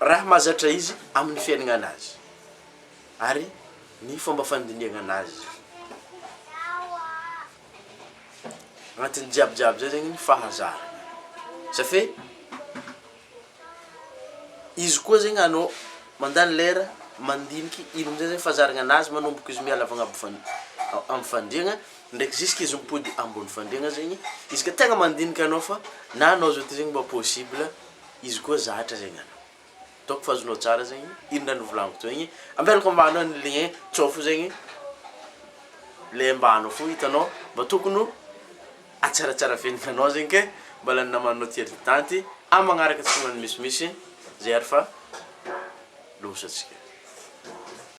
raha mahazatra izy amin'ny fiainana azy ary ny fomba fandinihana azy agnatin'ny jiabijiaby zay zegny ny fahazarana za fe izy koa zegny anao mandany lera mandiniky ino amizay zay fahazarana anazy manomboka izy miala avy agnabo fan- am'fandriagna Ndraiky ziska izy mipody ambony fandriagna zegny izy ka tegna mandinika anao fa na anao zao ty zegny mba possible izy koa zatra zegny anao donc fa azonao tsara zegny ino raha nivolagniko teo igny ampiariko ambany ao ny lien tsao fo zegny le ambany ao fo hitanao mba tokony ho atsaratsara fiaignana anao zegny ke mba lany namanao ty aloha tanty amy magnaraka tsy magnano misimisy zay ary fa loza tsika.